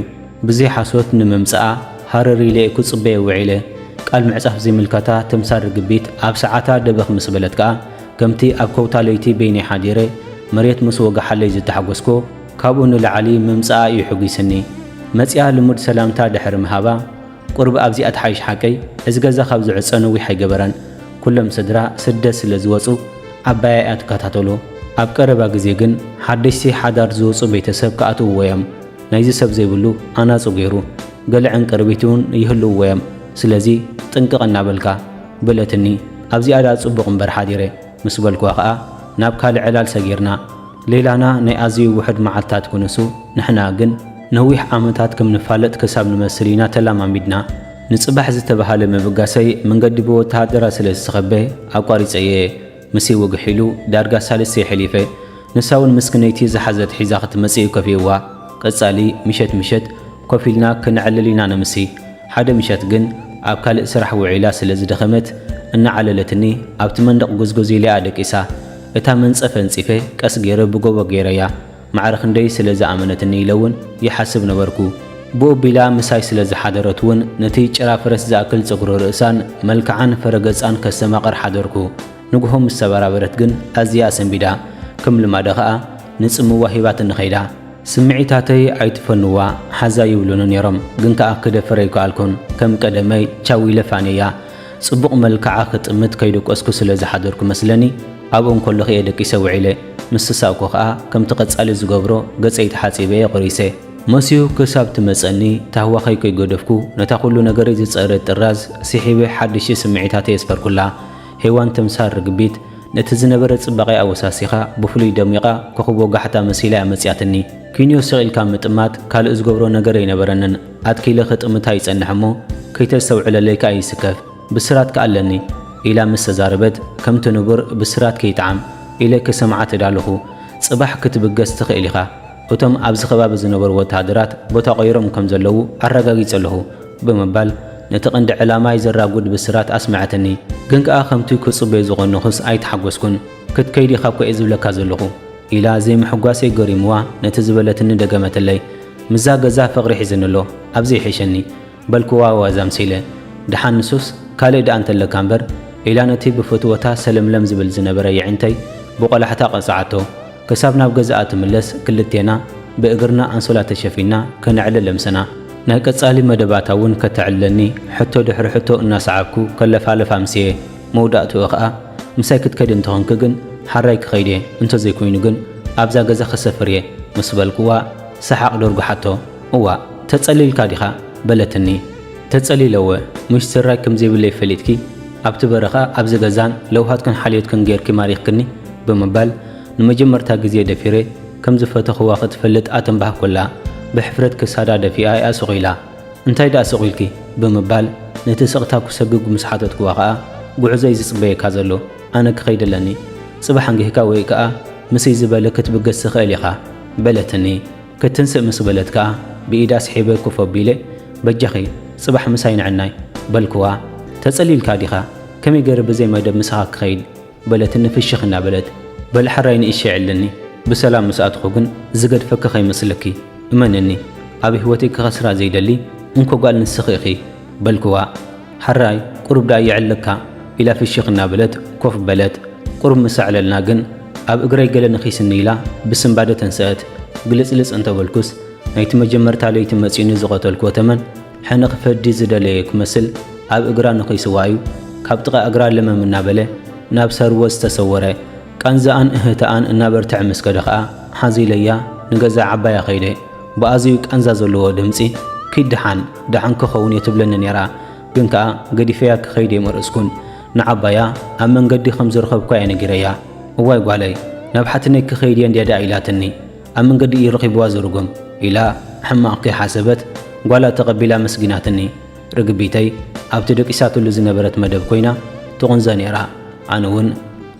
ብዘይ ሓሶት ንምምጽኣ ሃረር ኢለ'የ ክጽበዮ ውዒለ ቃል ምዕጻፍ ዘይምልከታ ተምሳል ርግቢት ኣብ ሰዓታ ደበኽ ምስ በለት ከኣ ከምቲ ኣብ ከውታ ለይቲ በይነይ ሓዲረ መሬት ምስ ወገሓለይ ዝተሓጎስኩ ካብኡ ንላዕሊ ምምጽኣ እዩ ሕጒስኒ መጺኣ ልሙድ ሰላምታ ድሕሪ ምሃባ ቁርብ ኣብዚኣ ትሓይሽ ሓቀይ እዚ ገዛ ካብ ዝዕጸ ነዊሕ ኣይገበረን ኩሎም ስድራ ስደት ስለ ዝወጹ ዓባያ እያ ትከታተሎ ኣብ ቀረባ ግዜ ግን ሓደሽቲ ሓዳር ዝወጹ ቤተሰብ ክኣትውዎ እዮም ናይዚ ሰብ ዘይብሉ ኣናጹ ገይሩ ገለ ዕንቅርቢት ውን ይህልውዎ እዮም ስለዚ ጥንቅቅ እናበልካ በለትኒ ኣብዚኣ ድኣ ጽቡቅ እምበር ሓዲረ ምስ በልኩዋ ከኣ ናብ ካልእ ዕላል ሰጊርና። ሌላና ናይ ኣዝዩ ውሑድ መዓልታት ክንሱ፣ ንሕና ግን ነዊሕ ዓመታት ከም ንፋለጥ ክሳብ ንመስል ኢና ተላማሚድና። ንጽባሕ ዝተበሃለ ምብጋሰይ መንገዲ ብወተሃደራት ስለ ዝተኸበ ኣቋሪጸ እየ። ምስይ ወግሕ ኢሉ ዳርጋ ሳልስቲ የሕሊፈ። ንሳ ውን ምስክነይቲ ዝሓዘት ሒዛ ክትመጽእ ከፊእዋ ቀጻሊ ምሸት ምሸት ኮፍ ኢልና ክነዕልል ኢና ነምሲ ሓደ ምሸት ግን ኣብ ካልእ ስራሕ ውዒላ ስለ ዝደኸመት እናዓለለትኒ ኣብቲ መንደቕ ጎዝጎዝ ኢሊኣ ደቂሳ እታ መንጸፍ ኣንጺፈ ቀስ ጌረ ብጎቦ ጌረያ ማዕረ ክንደይ ስለ ዝኣመነትኒ ኢለ ውን ይሓስብ ነበርኩ ብኡ ኣቢላ ምሳይ ስለ ዝሓደረት ውን ነቲ ጭራ ፈረስ ዝኣክል ጸጉሪ ርእሳን መልክዓን ፈረገጻን ከስተማቕር ሓደርኩ። ንግሆ ምስ ተበራበረት ግን ኣዝያ ሰንቢዳ፣ ከም ልማዳ ከኣ ንጽምዋ ሂባትኒ ከይዳ። ስምዒታተይ ኣይትፈንዋ ሓዛ ይብሉኒ ኔሮም ግን ከኣ ክደፍር ኣይከኣልኩን፣ ከም ቀደመይ ቻው ኢለ ፋንየያ። ጽቡቕ መልክዓ ክጥምት ከይደቆስኩ ስለ ዝሓደርኩ መስለኒ ኣብኡ እንከለኹ'የ ደቂሰ ውዒለ። ምስ ተሳእኩ ከኣ ከምቲ ቀጻሊ ዝገብሮ ገጸይ ተሓጺበ'የ ቆሪሰ። መስዩ ክሳብ ትመጸኒ ታህዋኸይ ከይገደፍኩ ነታ ኩሉ ነገረይ ዝጸረየት ጥራዝ ስሒበ ሓድሽቲ ስምዒታተይ ኣስፈርኩላ። ሄዋን ተምሳል ርግቢት ነቲ ዝነበረ ጽባቄኣ ኣወሳሲኻ ብፍሉይ ደሚቓ ኮኾብ ወጋሕታ መሲላ እያ መጺኣትኒ። ኪንዮ ስቕ ኢልካ ምጥማት ካልእ ዝገብሮ ነገር ኣይነበረንን። ኣትኪለ ክጥምታ ይጸንሕ እሞ ከይተስተውዕለለይ ከኣ ይስከፍ። ብስራት ከኣ ኣለኒ። ኢላ ምስ ተዛረበት ከምቲ ንቡር ብስራት ከይጥዓም ኢለ ክሰምዓ ተዳለኹ። ጽባሕ ክትብገስ ትኽእል ኢኻ። እቶም ኣብዚ ከባቢ ዝነበሩ ወተሃደራት ቦታ ቀይሮም ከም ዘለዉ ኣረጋጊጸ ኣለኹ። ብምባል ነቲ ቀንዲ ዕላማይ ዘራጉድ ብስራት ኣስመዐትኒ። ግን ከኣ ከምቲ ክጽበዮ ዝቐነኹስ ኣይተሓጎስኩን። ክትከይድ ኢኻ እኮ'የ ዝብለካ ዘለኹ። ኢላ ዘይምሕጓሰይ ገሪሙዋ ነቲ ዝበለትኒ ደገመትለይ። ምስዛ ገዛ ፍቕሪ ሒዝኒ ኣሎ። ኣብዚ ይሕሸኒ። በልኩዋ ዋዛ ኣምሲለ። ደሓን ንሱስ ካልእ ደኣ እንተለካ እምበር። ኢላ ነቲ ብፍትወታ ሰለምለም ዝብል ዝነበረ የዒንተይ ብቖላሕታ ቀጽዓቶ። ክሳብ ናብ ገዛኣ ትምለስ ክልቴና ብእግርና ኣንሶላ ተሸፊና ከነዕልል ለምሰና። ናይ ቀጻሊ መደባታ እውን ከተዕልለኒ ሕቶ ድሕሪ ሕቶ እናሰዓብኩ ከለፋልፍ ኣምስየ። መውዳእትኡ ከኣ ምሳይ ክትከዲ እንተኾንኪ ግን ሓራይ ክኸይድ እየ፣ እንተዘይኮይኑ ግን ኣብዛ ገዛ ክሰፍር እየ ምስ በልኩዋ ሰሓቕ ደርጉሓቶ። እዋእ ተጸሊልካ ዲኻ? በለትኒ። ተጸሊለወ ሙሽ ስራይ ከም ዘይብለይ ፈሊጥኪ ኣብቲ በረኻ ኣብዚ ገዛን ለውሃትክን ሓልዮትክን ጌርኪ ማሪኽክኒ ብምባል ንመጀመርታ ግዜ ደፊረ ከም ዝፈተኽዋ ክትፈልጥ ኣተንባህኩላ ብሕፍረት ክሳዳ ደፊኣ ኢያ ስቕ ኢላ እንታይ ድኣ ስቕ ኢልኪ ብምባል ነቲ ስቕታ ኩሰግግ ምስ ሓተትክዋ ከኣ ጉዕዞ ኢዩ ዝጽበየካ ዘሎ ኣነ ክኸይድ ኣለኒ ጽባሕ ኣንጊህካ ወይ ከኣ ምስይ ዝበለ ክትብገስ ትኽእል ኢኻ በለትኒ ክትንስእ ምስ በለት ከኣ ብኢዳ ስሒበ ኮፍ ኣቢለ፣ በጃኺ ጽባሕ ምሳይ ንዕናይ። በልክዋ። ተጸሊልካ ዲኻ? ከመይ ገይረ ብዘይ መደብ ምሳኻ ክኸይድ? በለትኒ ፍሽኽ እናበለት። በል ሕራይ ንእሸይ ዕልልኒ፣ ብሰላም ምስ ኣትኹ ግን ዝገድፈኪ ከይመስለኪ። እመንኒ ኣብ ህይወተይ ክኸስራ ዘይደሊ እንኮ ጓል ንስኺ ኢኺ። በልክዋ። ሐራይ ቁሩብ ደኣ የዕልለካ ኢላ ፍሽኽ እናበለት ኮፍ በለት። ቁሩብ ምስ ኣዕለልና ግን ኣብ እግረይ ገለ ነኺስኒ ኢላ ብስንባደ ተንሰአት። ግልጽልጽ እንተበልኩስ ናይቲ መጀመርታ ለይቲ መጺኡኒ ዝቐተልክዎ ተመን ሕነ ክፈዲ ዝደለየ ክመስል ኣብ እግራ ነኺስዋ እዩ ካብ ጥቓ እግራ ለመም እናበለ ናብ ሰርወ ዝተሰወረ። ቃንዛኣን እህህታኣን እናበርተዐ ምስ ከደ ከኣ ሓዚለያ ንገዛ ዓባያ ከይደ። ብኣዝዩ ቃንዛ ዘለዎ ድምጺ፣ ኪድ ደሓን፣ ደሓን ክኸውን እየ ትብለኒ ነይራ፣ ግን ከኣ ገዲፈያ ክኸይድ ኣይመረጽኩን። ንዓባያ ኣብ መንገዲ ከም ዝረኸብኩዋ እየ ነጊረያ። እዋይ ጓለይ፣ ናብ ሓትነይ ክኸይድ እየ እንድያ ደኣ ኢላትኒ፣ ኣብ መንገዲ እዩ ረኺቡዋ ዝርጉም ኢላ ሕማቕ ከይሓሰበት ጓላ ተቐቢላ ኣመስጊናትኒ። ርግቢተይ ኣብቲ ደቂሳትሉ ዝነበረት መደብ ኮይና ትቑንዘ ነይራ፣ ኣነ ውን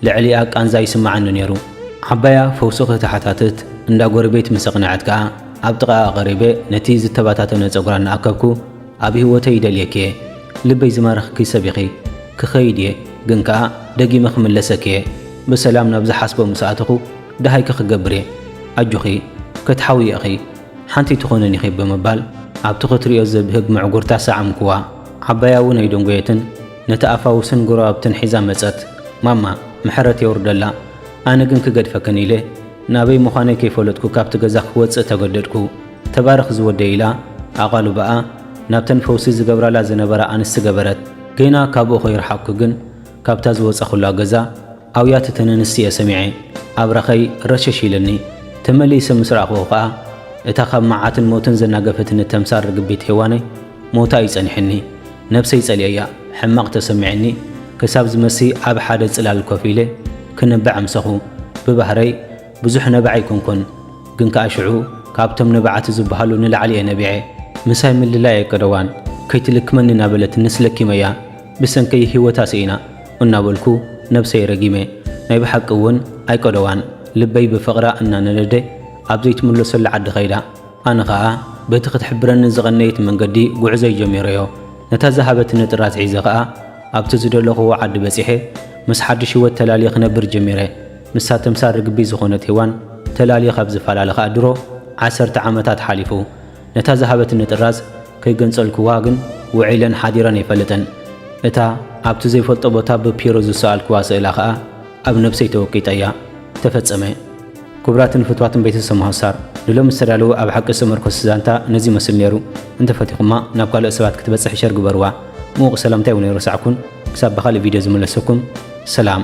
ልዕሊኣ ቃንዛ ይስመዓኒ ነይሩ። ዓባያ ፈውሲ ከተሓታትት እንዳ ጎረቤት ምስ ኣቕነዐት ከኣ ኣብ ጥቓኣ ቀሪበ ነቲ ዝተበታተነ ጸጉራ እናኣከብኩ ኣብ ህይወተይ ይደልየኪ'የ፣ ልበይ ዝማረኽኪ ሰብ ኢኺ፣ ክኸይድ'የ ግን ከኣ ደጊመ ክምለሰኪ'የ፣ ብሰላም ናብ ዝሓስቦ ምስ ኣተኹ ደሃይኪ ክገብር'የ፣ ኣጆኺ ክትሓውዪ ኢኺ። ሓንቲ ኣይትኾንን ኢኺ ብምባል ኣብቲ ክትሪኦ ዘብህግ ምዕጉርታ ሰዓምኩዋ። ዓባያ እውን ኣይደንጎየትን ነቲ ኣፋውስን ጎረባብትን ሒዛ መጸት። ማማ ምሕረት የውርደላ ኣነ ግን ክገድፈክን ኢለ ናበይ ምዃነይ ከይፈለጥኩ ካብቲ ገዛ ክወጽእ ተገደድኩ። ተባረኽ ዝወደይ ኢላ ኣቓልቦኣ ናብተን ፈውሲ ዝገብራላ ዝነበራ ኣንስቲ ገበረት። ገና ካብኡ ከይረሓቕኩ ግን ካብታ ዝወጸኹላ ገዛ ኣውያት እተን ኣንስቲ'የ ሰሚዐ። ኣብራኸይ ረሸሽ ኢሉኒ። ተመሊሰ ምስ ረኣኹዎ ከኣ፣ እታ ካብ መዓትን ሞትን ዘናገፈትኒ ተምሳል ርግቢት ሄዋነይ ሞታ'ዩ ጸኒሑኒ። ነብሰይ ጸሊኤያ። ሕማቕ ተሰሚዑኒ ክሳብ ዝመሲ ኣብ ሓደ ጽላል ኮፍ ኢለ ክነብዕ ኣምሰኹ። ብባህረይ ብዙሕ ነባዒ ኣይኮንኩን። ግን ከኣ ሽዑ ካብቶም ነባዓቲ ዝበሃሉ ንላዕሊ'የ ነቢዐ። ምሳይ ምልላይ'የ ቀደዋን። ከይትልክመኒ እናበለት ንስ ለኪመያ። ብሰንኪ ሂወታ ስኢና እናበልኩ ነብሰይ ረጊመ ናይ ብሓቂ እውን ኣይቀደዋን ልበይ ብፍቕራ እናነደደ ኣብ ዘይትምለሰሉ ዓዲ ከይዳ ኣነ ከኣ በቲ ክትሕብረኒ ዝቐነየት መንገዲ ጉዕዞይ ጀሚረዮ ነታ ዝሃበትኒ ጥራዝ ሒዘ ከኣ ኣብቲ ዝደለኹዎ ዓዲ በጺሐ ምስ ሓድሽ ሂወት ተላልየ ክነብር ጀሚረ ንሳ ተምሳል ርግቢት ዝኾነት ሄዋን ተላልየ ካብ ዝፈላለ ከኣ ድሮ ዓሰርተ ዓመታት ሓሊፉ ነታ ዝሃበትኒ ጥራዝ ከይገንጸልኩዋ ግን ውዒለን ሓዲረን ኣይፈልጥን። እታ ኣብቲ ዘይፈልጦ ቦታ ብፒሮ ዝሰኣልኩዋ ስእላ ከኣ ኣብ ነብሰይ ተወቂጣ እያ። ተፈጸመ። ክቡራትን ፍትዋትን ቤተሰብ ሞሃሳር፣ ንሎሚ ዝተዳለወ ኣብ ሓቂ ዝተመርኮሰ ዛንታ ነዚ ይመስል ነይሩ። እንተፈቲኹማ ናብ ካልኦት ሰባት ክትበጽሕ ሸር ግበርዋ። ምዉቕ ሰላምታይ ውን ኣይረሳዕኩን። ክሳብ ብኻልእ ቪድዮ ዝምለሰኩም። ሰላም።